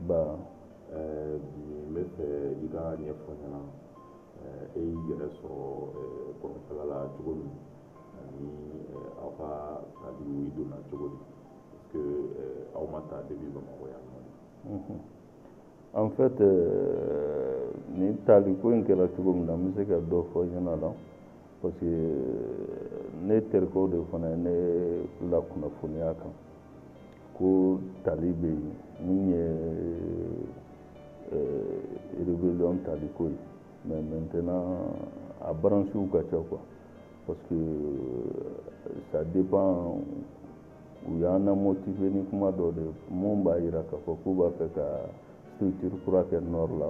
Ba n b'a fɛ i ka ɲɛfɔ n ɲɛna e y'i yɛrɛ sɔrɔ kɔrɔnfɛla la cogo min ani aw ka taali donna cogo min parce que aw ma taa de bɛ Bamakɔ yan en fait nin taali ko in kɛra cogo min na n bɛ se ka dɔ fɔ i ɲɛna la parce que ne terikɛw de fana ne la kunnafoniya kan ko taali bɛ yen min ye rébellion taali ko ye mais maintenant a branches ka ca quoi parce que ça dépend u y'an na motiver ni kuma dɔ de ye mun b'a jira k'a fɔ k'u b'a fɛ ka structure kura kɛ nord la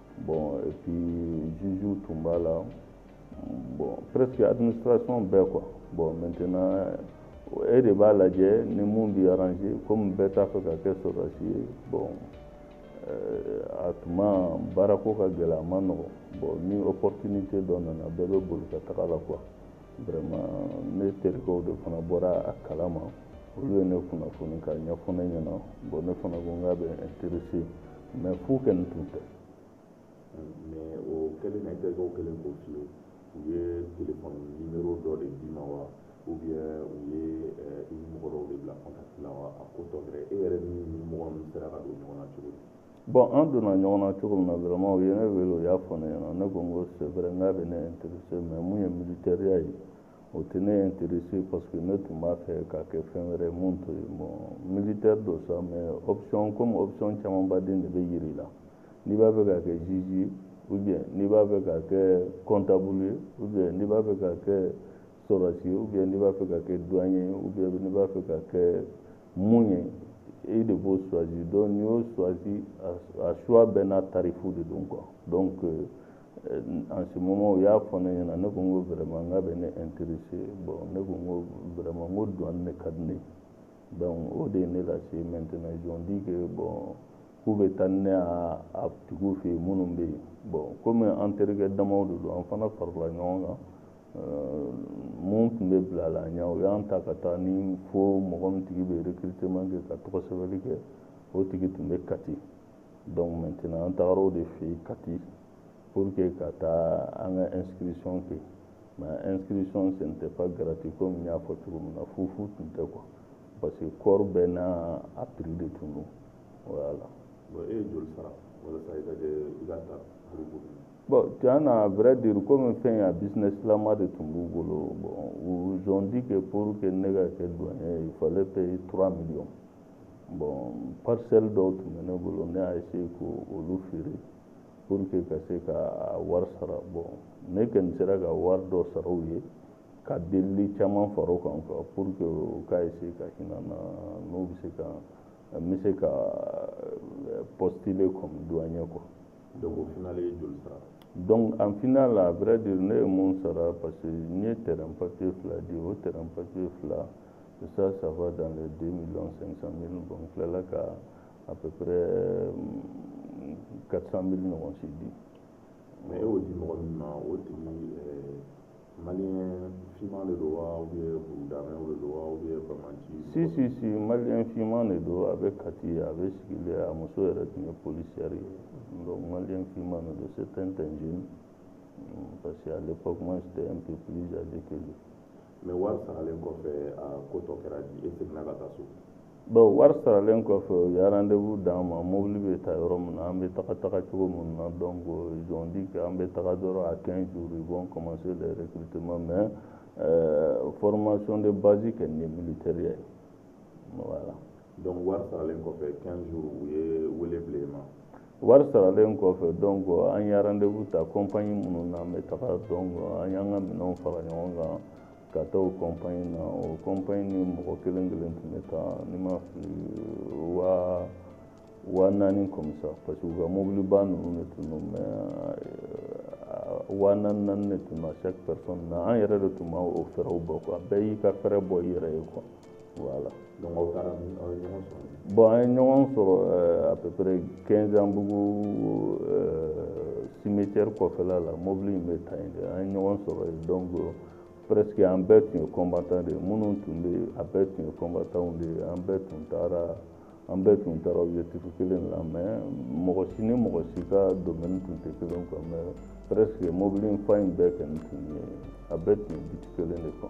bon et puis jugew tun b'a la bon presque administration bɛɛ quoi bon maintenant e de b'a lajɛ ni mun b'i arranger comme bɛɛ t'a fɛ ka kɛ sɔrɔdasi ye bon euh, a tuma baarako ka gɛlɛn a ma nɔgɔ bon ni opportunité dɔ nana bɛɛ bɛ boli ka taga a la quoi vraiment ne terikɛw de fana bɔra a kala ma olu ye ne kunnafoni k'a ɲɛfɔ ne ɲɛna bon ne fana ko n k'a bɛ n intéresser mais fu kɛ nin tun tɛ mais o kɛlen na i terikɛw kɛlen k'o f'i ye u ye telefɔni nimero dɔ de d'i ma wa ou bien u ye eh, i ni mɔgɔ dɔw de bila contact la wa a ko tɔ kɛra e yɛrɛ ni mɔgɔ ninnu sera ka don ɲɔgɔn na cogo di Bon an donna ɲɔgɔn na cogo min na vraiment u ye ne wele u y'a fɔ ne ɲɛna ne ko n ko c'est vrai n k'a bɛ ne intéresser mais mun ye militaireya ye o tɛ ne intéresser parce que ne tun b'a fɛ ka kɛ fɛn wɛrɛ mun t'o ye bon militaire don sa mais option comme option camanba de bɛ yir'i la n'i b'a fɛ ka kɛ juge ye ou bien n'i b'a fɛ ka kɛ comptable ye ou bien n'i b'a fɛ ka kɛ sɔrɔdasi ou bien n'i b'a fɛ ka kɛ douane ye ou bien n'i b'a fɛ ka kɛ mun ye e de b'o choisir donc n'i y'o choisir a choix bɛɛ n'a tarif de don quoi donc euh, en ce moment u y'a fɔ ne ɲɛna ne ko n ko vraiment n k'a bɛ ne intéresser bon ne ko n ko vraiment n ko douane de ka di ne ye donc o de ye ne lase maintenant ils ont dit que bon k'u bɛ taa ni ne ye a tigiw fɛ yen minnu bɛ yen bon comme an terikɛ damaw de don an fana farala ɲɔgɔn kan mun tun bɛ bila an ɲɛ o y'an ta ka taa ni fo mɔgɔ min tigi bɛ recrutement kɛ ka tɔgɔ sɛbɛnni kɛ o tigi tun bɛ Kati donc maintenant an tagara o de fɛ yen Kati pour que ka taa an ka inscription kɛ mais inscription ce n'était pas gratuit comme n y'a fɔ cogo min na fufu tun tɛ quoi parce que corps bɛɛ n'a prix de tun don voilà. bon e ye joli sara walasa i ka kɛ i ka ta groupe Bon, tiɲɛ na à vrai dire komi fɛn ya business lama de tun b'u bolo bon ils ont dit que pour que ne ka kɛ douanier il fallait payer 3 millions bon parcelle dɔw tun bɛ ne bolo ne y'a essayer k'olu feere pour que n ka se k'a wari sara bon ne kɔni sera ka wari dɔ sara u ye ka delili caman fara o kan quoi pour que u ka essayer ka hinɛ n na n'u bɛ se ka n bɛ se ka euh, postuler comme douanier quoi Donc au final i ye joli sara? Donc en final à vrai dire ne ye mun sara parce que n ye terrain papier fila di o terrain papier fila ça ça va dans les 2 millions 500 000 bon n tilala ka à peu près 400 000 ɲɔgɔn si di. Mais e y'o di mɔgɔ min ma o tigi maliyɛn finman de don wa ou bien burudamɛw de don wa ou bien bamanci si si si maliyɛn finman de don a bɛ Kati a bɛ sigilen a muso yɛrɛ tun ye polisiyɛri ye donc maliyɛn finman de don c'est un jeune parce que à l'époque moi j'étais un peu plus âgé que lui mais wari saralen kɔfɛ a ko tɔ kɛra di e seginna ka taa so Bon wari saralen kɔfɛ u ye rendez-vous d'an ma mobili bɛ ta yɔrɔ min na an bɛ taga taga cogo minnu na donc ils ont dit que an bɛ taga dɔrɔn à 15 jours ils vont commencer les recrutements mais euh, formation de base kɛ ni militaire ye voilà donc wari saralen kɔfɛ 15 jours u ye wele bila i ma wari saralen kɔfɛ donc an ye rendez-vous ta compagnie minnu na an bɛ taga donc an y'an ka minɛnw fara ɲɔgɔn kan ka taa o kɔnpanye na o kɔnpanye ni mɔgɔ kelen kelen tun bɛ taa ni n ma fili waa naani comme ça parce que u ka mobiliba ninnu de tun don mais waa naani naani de tun na chaque personne na an yɛrɛ de tun b'o fraisw bɔ quoi bɛɛ y'i ka frais bɔ i yɛrɛ ye quoi Voilà. Donc aw taara aw ye ɲɔgɔn sɔrɔ bon an ye ɲɔgɔn sɔrɔ euh, à peu près Kinzanbugu euh, cimetière kɔfɛla la mobili in bɛ ta yen de an ye ɲɔgɔn sɔrɔ yen donc presque an bɛɛ tun ye combattant de ye minnu tun bɛ yen a bɛɛ tun ye combattantw de ye an bɛɛ tun taara an bɛɛ tun taara objectif kelen la mais mɔgɔ si ni mɔgɔ si ka domaine tun tɛ kelen quoi mais presque mobili in fa in bɛɛ kɔni tun ye a bɛɛ tun ye but kelen de quoi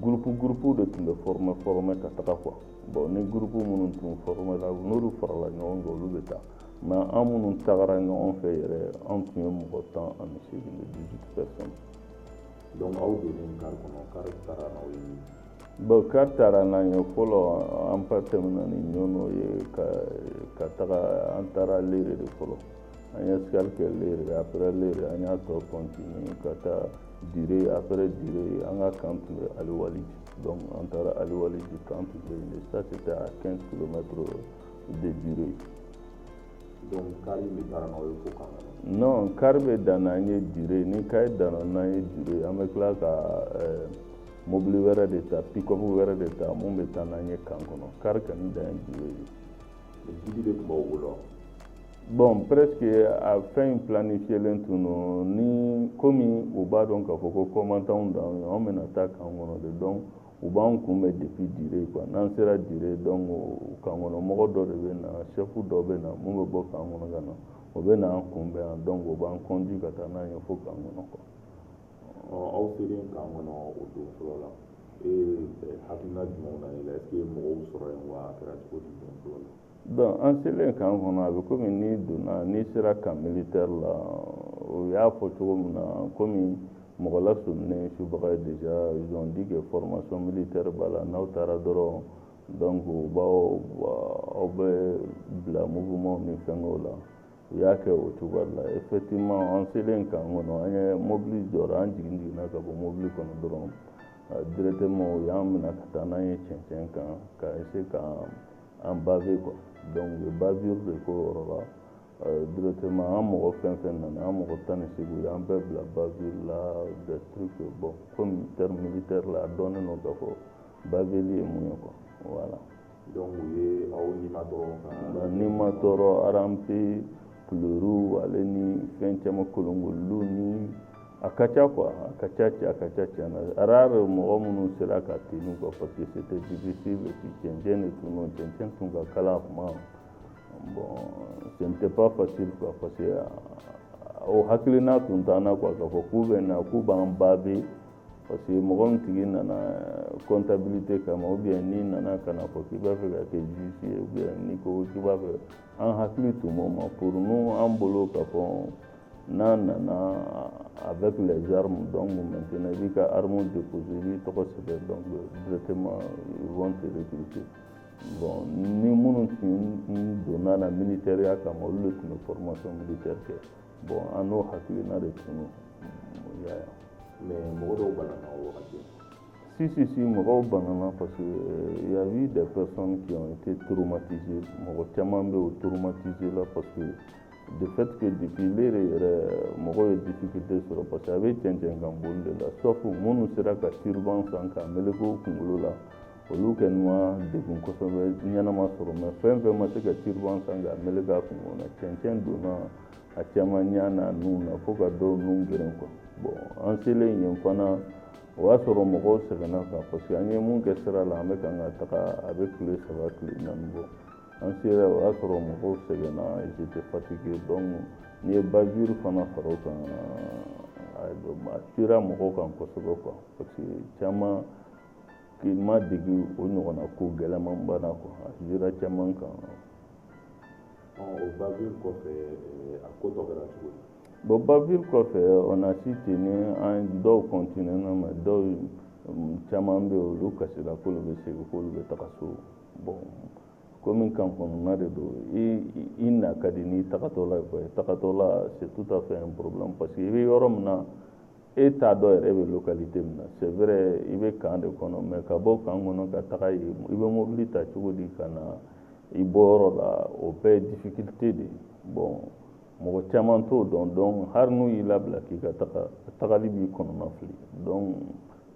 gurupu gurupu de tun bɛ foromɛ foromɛ ka taga quoi bon ni gurupu minnu tun foromɛla n'olu farala ɲɔgɔn kan olu bɛ taa mais an minnu tagara ɲɔgɔn fɛ yɛrɛ an tun ye mɔgɔ tan ani seegin de 18 personnes donc aw donnen kari kɔnɔ kari taara n'aw ye bon kari taara n'an ye fɔlɔ an tɛmɛna ni Ɲɔnɔ ye ka taga an taara Lere de fɔlɔ an ye escale kɛ lere après lere an y'a tɔ continuer ka taa dire après dire an ka kan tun bɛ alwalidji donc an taara alwalidji kan tun bɛ yen ça c'était à 15 kilomètres de dire donc kari bɛ taa n'aw ye fo kan non kari bɛ dan n'an ye dire ni kari danna n'an ye dire an bɛ tila ka euh, mobili wɛrɛ de ta pick-up wɛrɛ de ta mun bɛ taa n'an ye kan kɔnɔ kari kɔni dan ye dire ye Jigi de tun b'aw bolo wa? Bon presque a fɛn in planifielen tun don ni komi u b'a dɔn k'a fɔ ko combattantw d'an ye anw bɛna taa kan kɔnɔ de donc u b'an kunbɛn depuis dire quoi n'an sera dire donc kan kɔnɔ mɔgɔ dɔ de bɛ na chef dɔ bɛ na mun bɛ bɔ kan kɔnɔ ka na o bɛ na an kunbɛn yan donc o b'an conduit ka taa n'an ye fo kan kɔnɔ quoi aw selen kan kɔnɔ o don fɔlɔ la e hakilina jumɛnw na e la est ce que mɔgɔw sɔrɔ yen wa a kɛra cogo di don fɔlɔ la donc an selen kan kɔnɔ a bɛ komi n'i donna n'i sera kan militaire la o y'a fɔ cogo min na komi mɔgɔ lasɔminen subaga ye déjà ils ont dit que formation militaire b'a la n'aw taara dɔrɔn donc u b'aw aw bɛ bila mouvement ni fɛngɛw la u y'a kɛ o cogoya la effectivement an selen kan kɔnɔ an ye mobili jɔra an jigin jiginna ka bɔ mobili kɔnɔ dɔrɔn directement u y'an minɛ ka taa n'an ye cɛncɛn kan ka essayer ka an baver quoi donc u ye bavure de k'o yɔrɔ la euh, directement an mɔgɔ fɛn fɛn nana an mɔgɔ tan ni seegin u y'an bɛɛ bila bavure la des trucs bon comme terme militaire la a dɔnnen don k'a fɔ baveli ye mun ye quoi voilà Donc u ye aw nimatɔɔrɔ ka ba nimatɔɔrɔ ramper kuluru ale ni fɛn caman kolonkolonni a ka ca quoi a ka ca a ka ca tiɲɛ na rare mɔgɔ minnu sera ka tenir quoi parce que c'était difficile et puis cɛncɛn de tun don cɛncɛn tun ka kalan a tuma bon ce n'était pas facile quoi parce que o hakilina tun t'an na quoi k'a fɔ k'u bɛ na k'u b'an baver parce que mɔgɔ min tigi nana comptabilité kama ou bien n'i nana ka na fɔ k'i b'a fɛ ka kɛ juge ye ou bien n'i ko k'i b'a fɛ an hakili tun b'o ma pour nous an bolo k'a fɔ n'an nana avec les armes donc maintenant i b'i ka arme déposer i b'i tɔgɔ sɛbɛn donc directement ils vont te recruter bon ni minnu tun donna na militaireya kama olu de tun bɛ formation militaire kɛ bon an n'o hakilina de tun y'a ye mais mɔgɔ dɔw banana o wagati si si si mɔgɔw banana parce que euh, y a eu des personnes qui ont été traumatisées mɔgɔ caman bɛ o traumatisé la parce que de fait que depuis lere yɛrɛ mɔgɔ ye difficulté sɔrɔ parce que a bɛ cɛncɛn kan boli de la sauf minnu sera ka turban san k'a meleke u kunkolo la olu kɔni ma degun kosɛbɛ ɲɛnama sɔrɔ mais fɛn fɛn ma se ka tiriban san ka mele k'a kun kɔnɔ cɛncɛn donna a caman ɲa n'a nu na fo ka dɔw nu geren quoi bon an selen yen fana o y'a sɔrɔ mɔgɔw sɛgɛnna kan parce que an ye mun kɛ sira la an bɛ kan ka taga a bɛ tile saba tile naani bɔ an sera o y'a sɔrɔ mɔgɔw sɛgɛnna ils étaient fatigués donc n'i ye bavure fana fara o kan a sera mɔgɔw kan kosɛbɛ quoi parce que caman k'i ma degi o ɲɔgɔnna ko gɛlɛmanba na quoi a sera caman kan o bavure kɔfɛ eh, a ko tɔ kɛra cogo di bon bavure kɔfɛ on a si ten ni an dɔw kɔntinɛna mais dɔw mm, caman bɛ olu kasira k'olu bɛ segin k'olu bɛ taga so bon komi kan kɔnɔna de don i na ka di n'i tagatɔla ye quoi tagatɔla c'est tout à fait un problème parce que i bɛ yɔrɔ min na e t'a dɔn yɛrɛ e bɛ localité min na c'est vrai i bɛ kan de kɔnɔ mais ka bɔ kan kɔnɔ ka taga yen i bɛ mobili ta cogo di ka na i bɔyɔrɔ la o bɛɛ ye difficulté de ye bon mɔgɔ caman t'o dɔn donc hali n'u y'i labila k'i ka taga tagali b'i kɔnɔna fili donc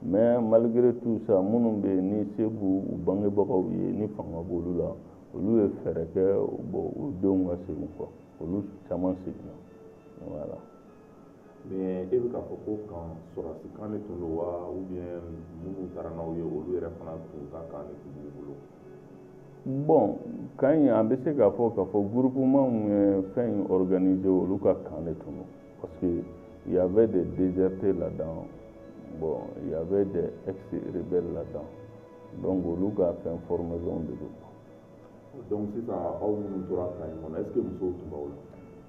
mais malgré tout ça minnu bɛ yen ni se b'u u bangebagaw ye ni fanga b'olu la olu ye fɛɛrɛ kɛ bon u denw ka segin kɔ olu caman seginna voilà mais e bɛ k'a fɔ ko kan sɔrɔdasi kan de tun don wa ou bien minnu taara n'aw ye olu yɛrɛ fana tun ka kan de tun b'u bolo bon kan in an bɛ se k'a fɔ k'a fɔ groupement min ye fɛn in organiser olu ka kan de tun don parce que il y avait des désertés là-dedans bon il y avait des ex-rebelles là-dedans donc olu ka fɛn formation de don donc sisan aw minnu tora kan in kɔnɔ est ce que musow tun b'aw la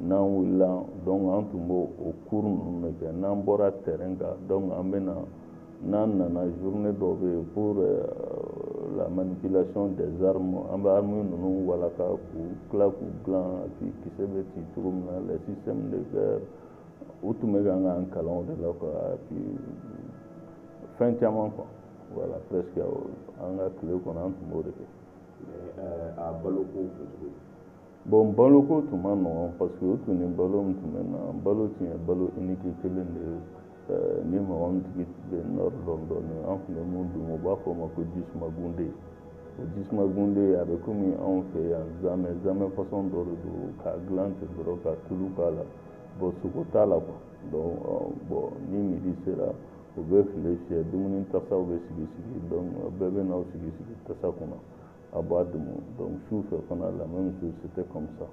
n'an wulila donc an tun b'o o cours ninnu de kɛ n'an bɔra terrain kan donc an bɛ na n'an nana journée dɔ bɛ yen pour euh, la manipulation des armes an bɛ armes ninnu walaka ka tila k'u dilan a tigi kisɛ bɛ ci cogo min na les systèmes de guerre u tun bɛ k'an k'an kalan o de la quoi et puis fɛn caman quoi voilà presque an ka tile kɔnɔ an tun b'o de kɛ. Mais euh, a baloko tun cogo bon baloko tun man nɔgɔn parce que o tun ni balo min tun bɛ na balo tun ye balo unique kelen de ye eh, ni mɔgɔ min tigi bɛ nord dɔn dɔɔni an tun bɛ mun dun u b'a fɔ o ma ko jisumagunde o jisumagunde a bɛ komi anw fɛ yan zamɛ zamɛ fasɔn dɔ de don k'a dilan ten dɔrɔn ka tulu k'a la bon sogo t'a la quoi donc eh, bon ni midi sera u bɛ file fiyɛ dumuni tasaw bɛ sigi sigi donc bɛɛ bɛ na sigi sigi tasa kunna a b'a dumu donc su fɛ fana la même chose c'était comme ça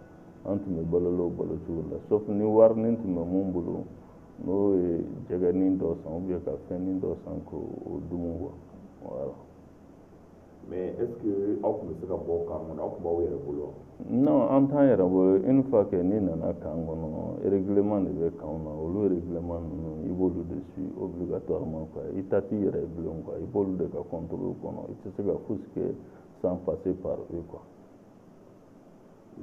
an tun bɛ balo o balo cogo la sauf ni warinin tun bɛ min bolo n'o ye jɛgɛnin dɔ san ou bien ka fɛnnin dɔ san k'o dumu quoi voilà mais est ce que aw tun bɛ se ka bɔ kan kɔnɔ aw tun b'aw yɛrɛ bolo wa non an t'an yɛrɛ bolo une fois que n'i nana kan kɔnɔ règlement de bɛ kanw na olu règlement ninnu i b'olu de suit obligatoirement quoi i ta t'i yɛrɛ ye bilen quoi i b'olu de ka contrôle kɔnɔ i tɛ se ka fosi kɛ sans passer par eux quoi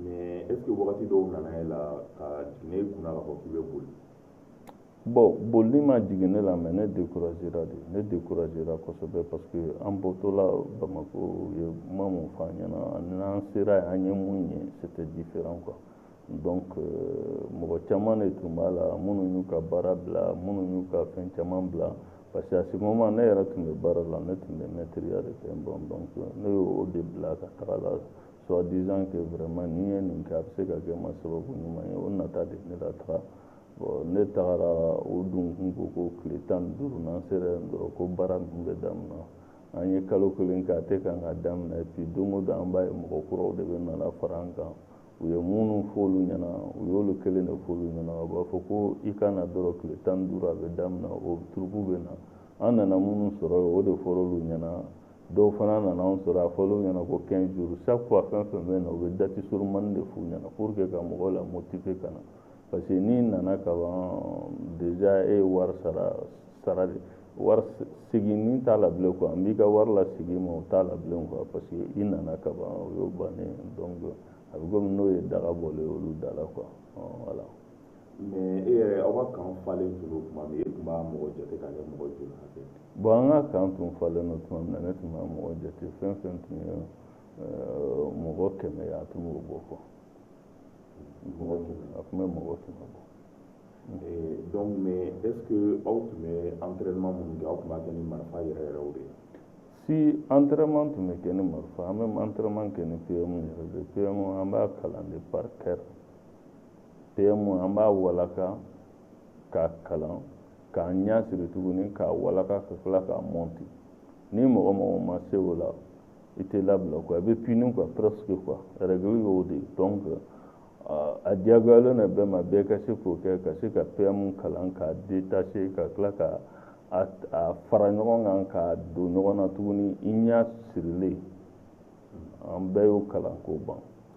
mais est ce que wagati dɔw nana e la ka jigin e kunna k'a fɔ k'i bɛ boli Bon bolili ma jigin ne la mais ne découragera de ne découragera kosɛbɛ parce que an bɔtɔla Bamako u ye kuma min fɔ an ɲɛna ani n'an sera yen an ye min ye c'était différent quoi donc euh, mɔgɔ caman de tun b'a la minnu y'u ka baara bila minnu y'u ka fɛn caman bila parce que à ce moment ne yɛrɛ tun bɛ baara la ne tun bɛ mɛtiriya de kɛ bon donc ne y'o de bila ka taga la soit disant que vraiment ni n ye nin kɛ a bɛ se ka kɛ n ma sababu ɲuman ye o nata de ye n lataga Bon ne tagara o donc u ko ko tile tan ni duuru n'an sera yen dɔrɔn ko baara ninnu bɛ daminɛ an ye kalo kelen kɛ a tɛ kan ka daminɛ bi don o don an b'a ye mɔgɔ kuraw de bɛ na na fara an kan u ye minnu f'anw ɲɛna u y'olu kelen de f'olu ɲɛna u b'a fɔ ko i ka na dɔrɔn tile tan ni duuru a bɛ daminɛ o turuku bɛ na an nana minnu sɔrɔ yen o de fɔra olu ɲɛna dɔw fana nana anw sɔrɔ a fɔra olu ɲɛna ko 15 jours chaque fois fɛn fɛn bɛ na u bɛ date surunmani de f'u ɲɛna pour que ka mɔgɔw la motiver ka na parce que n'i nana ka ban déjà e ye wari sara sara de wari seginni t'a la bilen quoi n b'i ka wari lasegin i ma o t'a la bilen quoi parce que i nana ka ban o y'o bannen donc a bɛ komi n'o ye daga bɔlen ye olu da la quoi voilà. mais e yɛrɛ aw ka kan falen tun don tuma min e tun b'a mɔgɔ jate ka kɛ mɔgɔ joli hakɛ ye. bon an ka kan tun falen don tuma min na ne tun b'a mɔgɔ jate fɛn fɛn tun ye mɔgɔ kɛmɛ ye a tun b'o bɔ quoi. mɔgɔ tun a tun bɛ mɔgɔ tun ka bɔ donc mais est ce que aw tun bɛ entraînement minnu kɛ aw tun b'a kɛ ni marifa yɛrɛ yɛrɛw de ye si entraînement tun bɛ kɛ ni marifa an bɛ entraînement kɛ ni pm yɛrɛ de pm an b'a kalan de par cœur pm an b'a walaka k'a kalan k'an ɲɛ siri tuguni k'a walaka ka tila k'a mɔnti ni mɔgɔ o mɔgɔ ma se o la i tɛ labila quoi i bɛ puni quoi presque quoi règle y'o de ye donc a diyagoyalen don bɛɛ ma bɛɛ ka se k'o kɛ ka se ka PM kalan k'a détacher ka tila k'a fara ɲɔgɔn kan k'a don ɲɔgɔn na tuguni i ɲɛ sirilen an bɛɛ y'o kalan k'o ban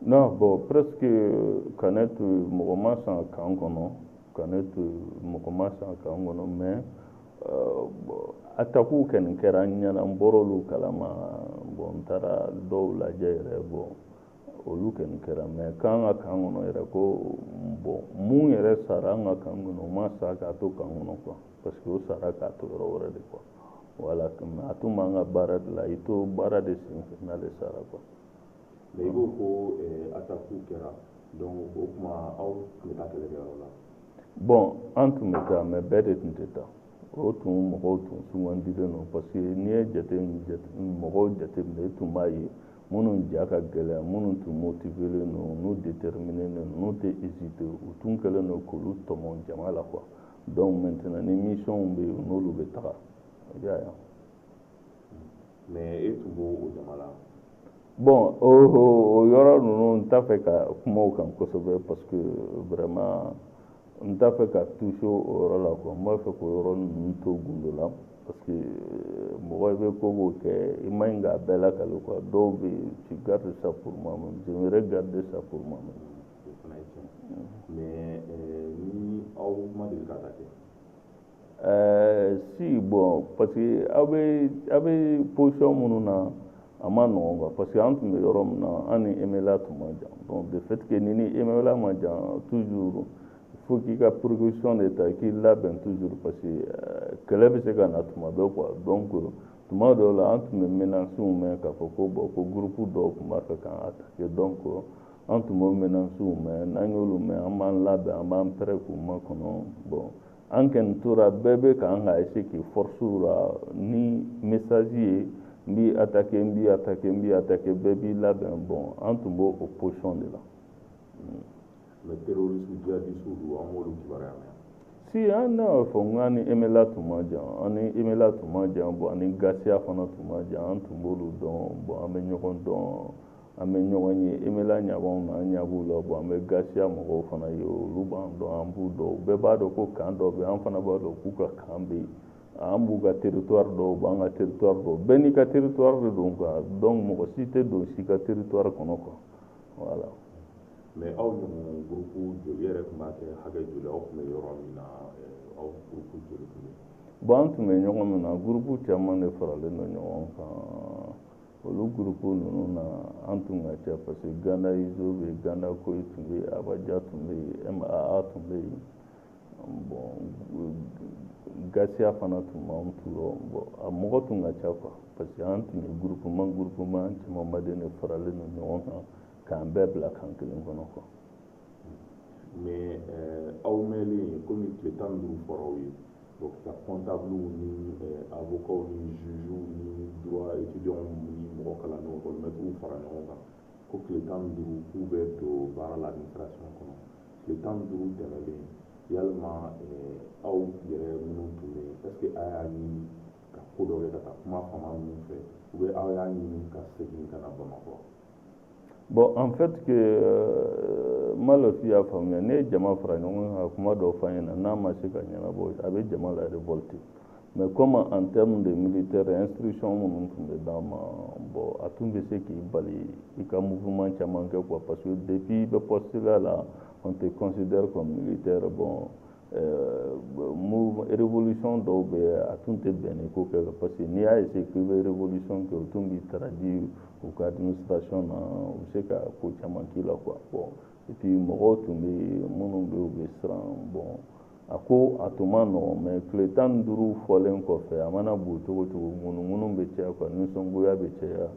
non bon presque ka ne to mɔgɔ ma sa kan kɔnɔ ka ne to mɔgɔ ma sa kan kɔnɔ mais euh, atakuw kɔni kɛra n ɲɛna n bɔr'olu kalama bon n taara dɔw lajɛ yɛrɛ bon olu kɔni kɛra mais k'an ka kan kɔnɔ yɛrɛ ko bon min yɛrɛ sara an ka kan kɔnɔ o ma sa k'a to kan kɔnɔ quoi parce que o sara k'a to yɔrɔ wɛrɛ de quoi voilà a tun b'an ka baara de la i to baara de senfɛ n'ale sara quoi mais i b'o ko ataku kɛra donc o tuma aw tun bɛ taa kɛlɛkɛyɔrɔ la bon an tun bɛ taa mais bɛɛ de tun tɛ taa o tun mɔgɔw tun sugandilen don parce que n'i ye jate mɔgɔw jateminɛ i tun b'a ye minnu ja ka gɛlɛn minnu tun motivelen don n'u déterminélen don n'u tɛ hésiter u tun kɛlen don k'olu tɔmɔ jama la quoi donc maintenant ni missionw bɛ yen n'olu bɛ taga i y'a ye mais e tun b'o o jama la bon o o yɔrɔ ninnu n t'a fɛ ka kuma o kan kosɛbɛ parce que vraiment n t'a fɛ ka toucher o yɔrɔ la quoi n b'a fɛ k'o yɔrɔ ninnu to gundo la parce que euh, mɔgɔ i bɛ ko o ko kɛ i man ɲi k'a bɛɛ lakali quoi dɔw bɛ yen tu gardes ça pour moi même j'aimerais garder ça pour moi même o fana ye tiɲɛ mais euh, ni aw ma deli ka attaquer Ɛɛ si bon parce que aw bɛ aw bɛ position minnu na a man nɔgɔ kan parce que an tun bɛ yɔrɔ min na an ni MNLA tun man jan donc des fois n'i ni MNLA man jan toujours fo k'i ka précaution de ta k'i labɛn toujours parce que kɛlɛ bɛ se ka na tuma bɛɛ quoi donc tuma dɔw la an tun bɛ menacew mɛn k'a fɔ ko bon ko gurupu dɔw tun b'a fɛ k'an attaquer donc an tun bɛ menacew mɛn n'an y'olu mɛn an b'an labɛn an b'an prêt k'u makɔnɔ bon an kɛni tora bɛɛ bɛ k'an ka essayer k'i force yira ni message ye n b'i attaquer n b'i attaquer n b'i attaquer bɛɛ b'i labɛn bon an tun b'o o position de la mais terorisiw jihadisiw dun aw b'olu kibaruya mɛn si an ne y'a fɔ n k'an ni MNLA tun man jan an ni MNLA tun man jan bon an ni GATIA fana tun man jan an tun b'olu dɔn bon an bɛ ɲɔgɔn dɔn an bɛ ɲɔgɔn ye MNLA ɲa b'an na an ɲa b'u la bon an bɛ GATIA mɔgɔw fana ye olu b'an dɔn an b'u dɔn bɛɛ b'a dɔn ko kan dɔ bɛ an fana b'a dɔn k'u ka kan bɛ yen an b'u ka territoire dɔn u b'an ka territoire dɔn bɛɛ n'i ka territoire de don quoi donc mɔgɔ si tɛ don si ka territoire kɔnɔ quoi voilà mais aw ɲɔgɔn gurupu joli yɛrɛ tun b'a kɛ hakɛ joli aw tun bɛ yɔrɔ min na eh, aw gurupu joli tun bɛ bon an tun bɛ yɔrɔ min na gurupu caman de faralen don ɲɔgɔn kan olu gurupu ninnu na an tun ka ca parce que ganda izo bɛ yen ganda koyi tun bɛ yen abaja tun bɛ yen maa tun bɛ yen bon gasiya fana tun b'an tu yɔrɔ bon a mɔgɔ tun ka ca quoi parce que an tun ye gurupuman gurupuman camanba de faralen don ɲɔgɔn kan k'an bɛɛ bila kan kelen kɔnɔ quoi mais eh, aw mɛnlen komi tile tan ni duuru fɔra aw ye donc ka kɔntabuluw ni avokaw eh, ni jugew ni droit étudiants ni mɔgɔ kalannenw kɔlimɛtiriw fara ɲɔgɔn kan ko tile tan ni duuru k'u bɛ don baara la administration kɔnɔ tile tan ni duuru tɛmɛlen yala eh, aw yɛrɛ minnu tun bɛ yen est ce que a y'a ɲini ka ko dɔ kɛ ka taa kuma fama ninnu fɛ ou bien aw y'a ɲini ka segin ka na bamakɔ Bon en fait que euh, n b'a dɔn k'i y'a faamuya n'i ye jama fara ɲɔgɔn kan kuma dɔw fɔ a ɲɛna n'a ma se ka ɲɛnabɔ a bɛ jama la révolter mais comme en terme de militaire instruction minnu tun bɛ d'an ma bon a tun bɛ se k'i bali i ka mouvement caman kɛ quoi parce que depuis i bɛ poste la là on te considère comme militaire bon mu révolution dɔw bɛ a tun tɛ bɛn i k'o kɛ parce que n'i y'a essayer k'i bɛ révolution kɛ u tun b'i traduire u ka administration na u bɛ se ka ko caman k'i la quoi bon et puis mɔgɔw tun bɛ minnu bɛ u bɛ siran bon a ko a tun man nɔgɔn mais tile tan ni duuru fɔlen kɔfɛ a mana bon cogo o cogo ŋunuŋunu bɛ caya quoi nisɔngoya bɛ caya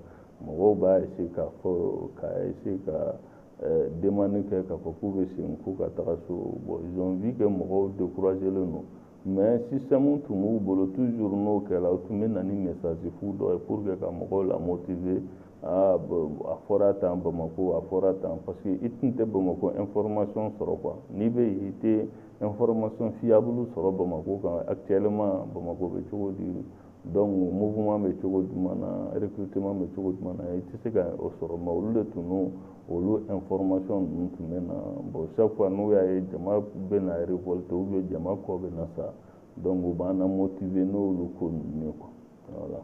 mɔgɔw b'a essayer k'a fɔ k'a essayer ka eh, demande kɛ k'a fɔ k'u bɛ segin k'u ka taga so bon ils ont vu que mɔgɔw découragelen don mais système tun b'u bolo toujours n'o kɛra u tun bɛ na ni message fu dɔ ye pour que ka mɔgɔw la motiver aa a fɔra tan Bamako a fɔra tan parce que i tun tɛ Bamako information sɔrɔ quoi n'i bɛ yen i tɛ information fiable sɔrɔ Bamako kan actuellement Bamako bɛ cogo di donc mouvement bɛ cogo jumɛn na recrutement bɛ cogo jumɛn na i tɛ se ka o sɔrɔ mais olu de tun n'o olu information ninnu tun bɛ na bon chaque fois n'u y'a ye jama bɛ na révolter ou bien jama kɔ bɛ na sa donc u b'an na motiver n'olu ko ninnu ye quoi voilà.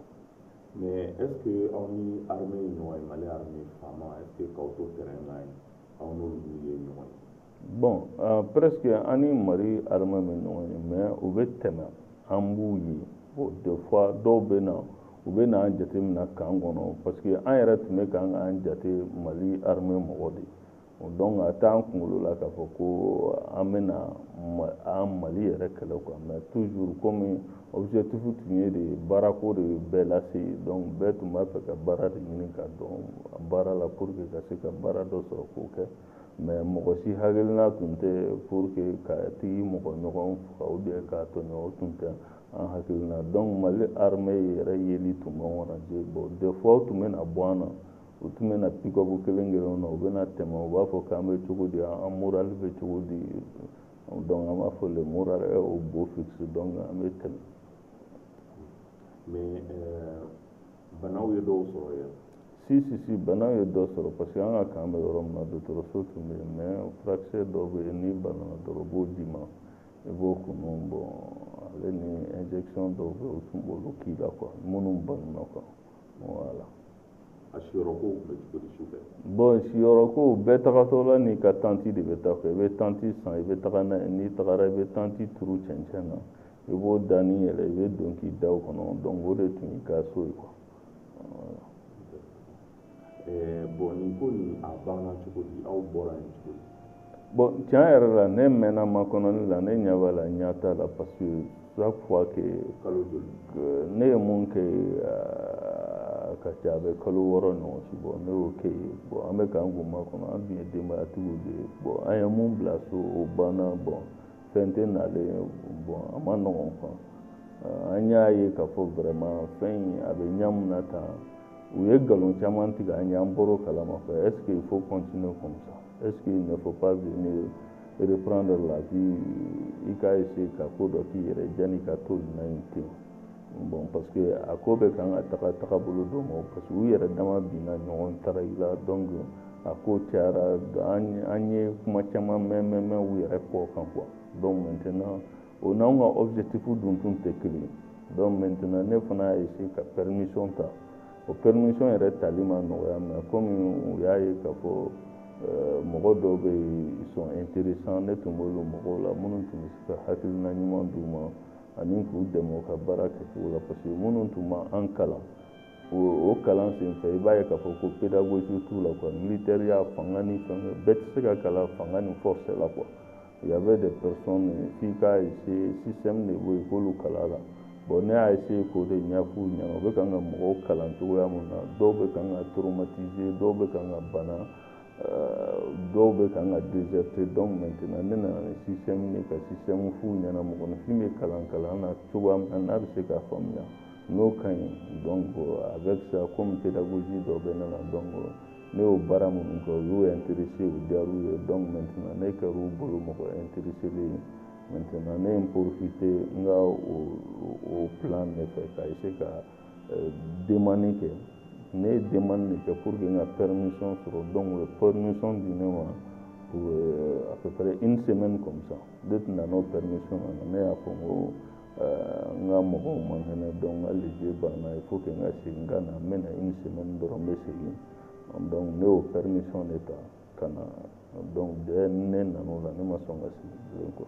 mais est ce que aw ni armée ye ɲɔgɔn ye mali armée FAMa est ce que k'aw to terrain kan yen aw n'olu ye ɲɔgɔn ye. bon euh, presque an ni mali armée ma ɲɔgɔn ye mais u bɛ tɛmɛ an b'u ye bon des fois dɔw bɛ na u bɛ n'an jate minɛ kan kɔnɔ parce que an yɛrɛ tun bɛ kan k'an jate mali armée mɔgɔ de ye donc a t'an kunkolo la k'a fɔ ko an bɛna an mali yɛrɛ kɛlɛ quoi mais toujours komi objectif tun ye de baarako de bɛɛ lase donc bɛɛ tun b'a fɛ ka baara de ɲini ka don baara la pour que ka se ka baara dɔ sɔrɔ k'o kɛ mais mɔgɔ si hakilina tun tɛ pour que ka tag'i mɔgɔ ɲɔgɔn faga ou bien k'a tɔɲɔ o tun tɛ an hakilina donc mali armée yɛrɛ yeli tun b'an encourager bon des fois u tun bɛ na bɔ an na u tun bɛ na pick-up kelen kelen na u bɛ na tɛmɛ u b'a fɔ k'an bɛ cogo di an moral bɛ cogo di donc an b'a fɔ le moral est au beau fixe donc an bɛ tɛmɛ mais euh, banaw ye dɔw sɔrɔ yan si si si banaw ye dɔ sɔrɔ parce que an ka camp bɛ yɔrɔ min na dɔgɔtɔrɔso tun bɛ yen mais furakisɛ dɔ bɛ yen n'i banana dɔrɔn u b'o d'i ma i b'o kunun bon ale ni injection dɔw bɛ yen u tun b'olu k'i la quoi minnu banana quoi voilà a siyɔrɔkow tun bɛ cogo di su fɛ bon siyɔrɔkow bɛɛ tagatɔ la n'i ka tanti de bɛ taa fɛ i bɛ tanti san i bɛ taga n'a ye n'i tagara i bɛ tanti turu cɛncɛn na i b'o danin yɛlɛ i bɛ don k'i da o kɔnɔ donc o de tun y'i ka so ye quoi eh, bon nin ko nin a banna cogo di aw bɔra yen cogo di bon tiɲɛ yɛrɛ la ne mɛnna makɔnɔni la ne ɲɛ b'a la ɲɛ t'a la parce que chaque fois que kalo joli ne ye mun kɛ a ka ca a bɛ kalo wɔɔrɔ ɲɔgɔn si bɔ ne y'o kɛ yen bon an bɛ kan k'u makɔnɔ an tun ye denbayatigiw de ye bon an ye mun bila so o banna bon fɛn tɛ nalen bon a man nɔgɔn quoi an y'a ye k'a fɔ vraiment fɛn in a bɛ ɲa min na tan u ye nkalon caman tigɛ an ye an bɔr'o kalama fɛ est ce que il faut continuer comme ça est ce qu'il ne faut pas venir reprendre la vie i ka essayer ka ko dɔ k'i yɛrɛ janni i ka to nin na in ten bon parce que a ko bɛ kan ka taga taga bolo dɔ ma parce que u yɛrɛ dama binna ɲɔgɔn trahir la donc a ko cayara an ye kuma caman mɛn mɛn mɛn u yɛrɛ kɔ kan quoi donc maintenant o n'anw ka objectif dun tun tɛ kelen ye donc maintenant ne fana y'a essayer ka permission ta o permission yɛrɛ tali ma nɔgɔya mais komi u y'a ye k'a fɔ euh, mɔgɔ dɔw bɛ yen ils sont intéressants ne tun b'olu mɔgɔw la minnu tun bɛ se ka hakilina ɲuman d'u ma ani k'u dɛmɛ u ka baara kɛcogo la parce que minnu tun b'an kalan o kalan senfɛ i b'a ye k'a fɔ ko pédagogie t'u la quoi militaireya fanga ni fɛn bɛɛ tɛ se ka kalan fanga ni force la quoi il y avait des personnes f'i k'a essayer système de bɛ yen k'olu kalan la bon ne y'a essayer k'o de ɲɛf'u ɲɛna u bɛ kan ka mɔgɔw kalan cogoya min na dɔw bɛ kan ka traumatiser dɔw bɛ kan ka bana dɔw bɛ ka ka dezte dɔw mɛt ne nana ni si ye ka si sɛmu fu ɲɛna mɔgɔninfin bɛ kalan kalan na cogo min na n'a bɛ se k'a faamuya n'o ka ɲi dɔn a bɛ fisa ko min tɛ daji dɔ bɛ ne la dɔn ne y'o baara minnu kɛ u y'o ye terisi u diya ye dɔn mɛt ne kɛ u bolo mɔgɔ ye terisi ye mɛt ne ye porofin tɛ n ka o filan de fɛ ka se ka euh, demande kɛ ne ye demande de kɛ pour que n ka permission sɔrɔ donc u ye permission di ne ma pour euh, à peu près une semaine comme ça ne tun nan'o permission na ne y'a fɔ n ko n ka mɔgɔw man kɛnɛ donc n ka lege banna il faut que n ka segin ka na n bɛ na une semaine dɔrɔn n bɛ segin donc ne y'o permission de ta ka na donc dès ne nan'o la ne ma sɔn ka segin bilen quoi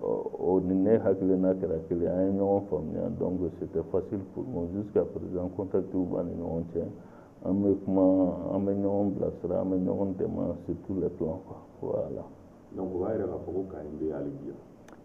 o ni ne hakilina kɛra kelen an ye ɲɔgɔn faamuya donc c'était facile pour moi jusqu'à présent contactiw b'an ni ɲɔgɔn cɛ an bɛ kuma an bɛ ɲɔgɔn bilasira an bɛ ɲɔgɔn dɛmɛ sur tous les plans quoi voilà donc o b'a yira k'a fɔ ko camp in bɛ hali bi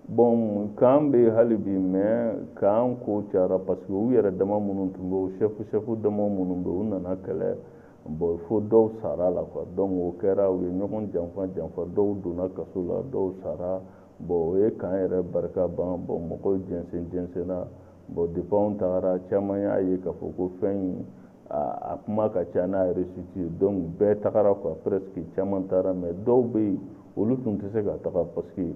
bon camp bɛ hali bi mais camp ko cayara parce que u yɛrɛ dama minnu tun bɛ o chef chef dama minnu bɛ u nana kɛlɛ Bon fo dɔw sara la quoi donc o kɛra u ye ɲɔgɔn janfa janfa dɔw donna kaso la dɔw sara bon o ye camp yɛrɛ barika ban bon mɔgɔw jɛnsen jɛnsenna bon depuis anw tagara caman y'a ye k'a fɔ ko fɛn in a kuma ka ca n'a réussite ye donc bɛɛ tagara quoi presque caman taara mais dɔw bɛ yen olu tun tɛ se ka taga parce que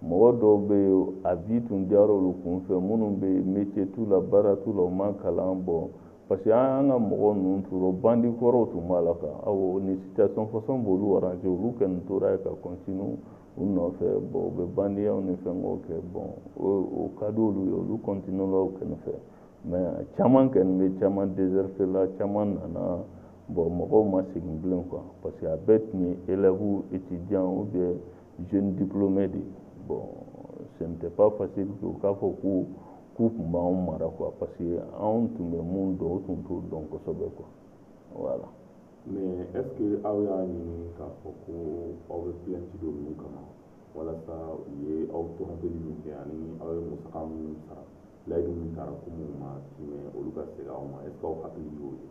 mɔgɔ dɔw bɛ yen a vie tun diyara olu kun fɛ minnu bɛ métier t'u la baara t'u la u ma kalan bon parce que an ka mɔgɔ ninnu tora bandi kɔrɔw tun b'a la quoi awɔ nin situation façon b'olu arranger olu kɔni tora yen ka continue u nɔfɛ bon u bɛ bandiyaw ni fɛnkɛw kɛ bon o ka di olu ye olu continue la u kɛrɛ fɛ mais caman kɔni bɛ caman déserter la caman nana bon mɔgɔw ma segin bilen quoi parce que a bɛɛ tun ye élèves étudiants ou bien jeune diplômé de bon ce n'était pas facile u k'a fɔ ko k'u tun b'anw mara quoi parce que anw tun bɛ mun dɔn u tun t'o dɔn kosɛbɛ quoi voilà mais est ce que aw y'a ɲini k'a fɔ ko aw bɛ plainte don ninnu kama walasa u ye aw tɔɔrɔli min kɛ ani aw ye musaka minnu sara layidu min tara ko minnu ma timɛ olu ka segin aw ma est ce que aw hakili y'o ye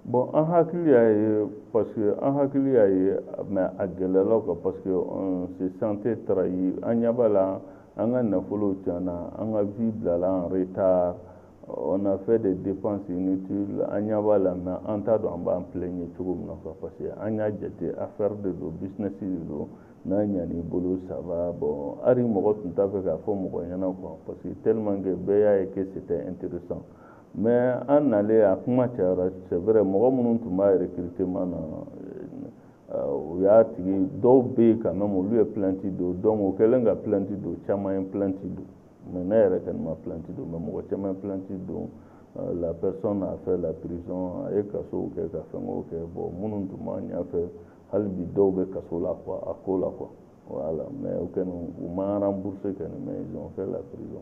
Bon an hakili y'a ye parce que an hakili y'a ye mais a gɛlɛyar'an kan parce que on se sentait trahi an ɲɛ b'a la an ka nafolow tiɲɛna an ka vie bilala en retard on a fait des dépenses inutiles an ɲɛ b'a la mais an t'a dɔn an b'an plaigner cogo min na quoi parce que an y'a jate affaire de don business de don n'a ɲan'i bolo ça va bon hali mɔgɔ tun t'a fɛ k'a fɔ mɔgɔ ɲɛna quoi parce que tellement que bɛɛ y'a ye que c'était intéressant mais an nalen a kuma cayara c'est vrai mɔgɔ minnu tun b'a recrutement na euh, u y'a tigi dɔw bɛ yen quand même olu ye plainte don donc o kɛlen ka plainte don caman ye plainte don mais ne yɛrɛ kɔni ma plainte don mais mɔgɔ caman ye plainte don euh, la personne a fait la prison a ye kasow kɛ ka fɛnkɛw kɛ bon minnu tun b'a ɲɛfɛ hali bi dɔw bɛ kaso la quoi a ko la quoi voilà mais u kɔni u ma rembourser kɔni mais ils ont fait la prison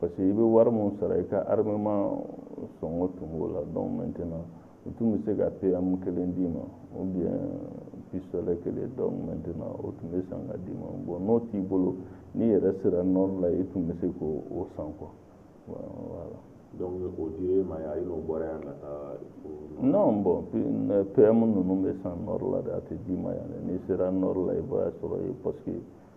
parce que i bɛ wari min sara i ka armement sɔngɔ tun b'o la donc maintenant u tun bɛ se ka PM kelen d'i ma ou bien pistolet kelen donc maintenant o tun bɛ san ka d'i ma bon n'o t'i bolo n'i yɛrɛ sera nord la i tun bɛ se k'o san quoi voilà. donc o dir'e ma yan i n'o bɔra yan ka taa. non bon PM ninnu bɛ san nord la de a tɛ d'i ma yan dɛ n'i sera nord la i b'a sɔrɔ yen parce que.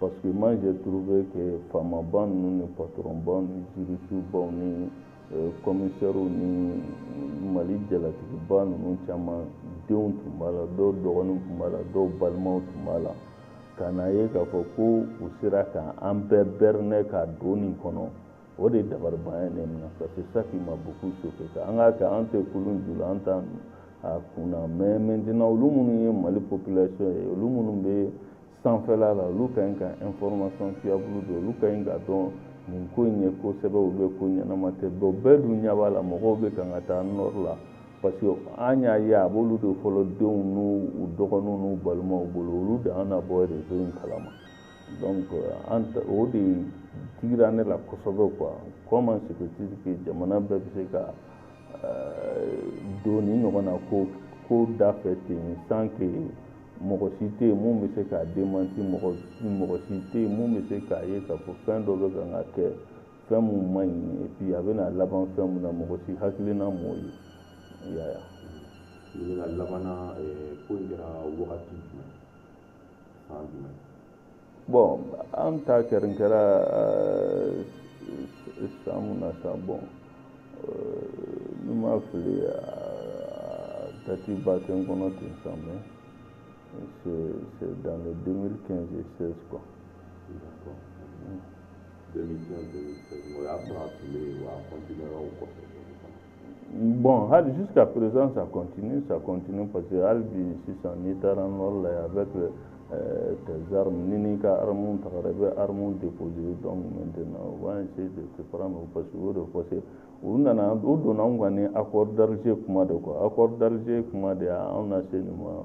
Parce que moi j'ai trouvé que faamabaw ninnu ni patɔrɔnbaw ni jirisubaw ni euh, kɔmisɛriw ni mali jalatigiba ninnu caman denw tun b'a la dɔw dɔgɔninw tun b'a la dɔw balimaw tun b'a la ka n'a ye k'a fɔ ko u sera ka an bɛɛ bɛrinɛ ka don nin kɔnɔ o de dabaribanya ye ne minɛ parce que ça qui m'a beaucoup choqué an k'a kɛ an tɛ kulun ju la an t'a kun na mais maintenant olu minnu ye mali population ye olu minnu bɛ sanfɛla la olu ka ɲi ka information fiable dɔn olu ka ɲi k'a dɔn nin ko in ye kosɛbɛ u bɛ ko ɲɛnama tɛ bɛɛ bɛɛ dun ɲɛ b'a la mɔgɔw bɛ kan ka taa nɔri la parce que an y'a ye a b'olu de fɔlɔ denw n'u u dɔgɔninw n'u balimaw bolo olu de an na bɔ rezo in kalama donc an o de digira ne la kosɛbɛ quoi comment se peut-il que jamana bɛɛ bɛ se ka don nin ɲɔgɔnna ko ko da fɛ ten sans que mɔgɔ si tɛ yen mun bɛ se k'a demanti mɔgɔ mɔgɔ si tɛ yen mun bɛ se k'a ye k'a fɔ fɛn dɔ bɛ kan ka kɛ fɛn mun man ɲi et puis a bɛna laban fɛn mun na mɔgɔ si hakilina m'o ye i y'a ye ɲininka laban na ko in kɛra wagati jumɛn san jumɛn bɔn an ta kɛlen kɛra san mun na sa bɔn ni n ma fili dati ba tɛ n kɔnɔ ten sa mais c'est dans le 2015 et 16 quoi. D'accord. 2015 2016 o y'a sɔrɔ a tun bɛ yen wa a continuera o kɔfɛ. Bon hali jusqu'à présent ça continue ça continue parce que hali bi sisan n'i taara nord la yan avec euh, tes armes ni n'i ka armes tagara i bɛ armes déposer donc maintenant on va essayer de te prendre parce que o de kosɔn u nana u donna anw kan ni accord d'Alger kuma de quoi accord d'Alger kuma de y'anw lase nin ma.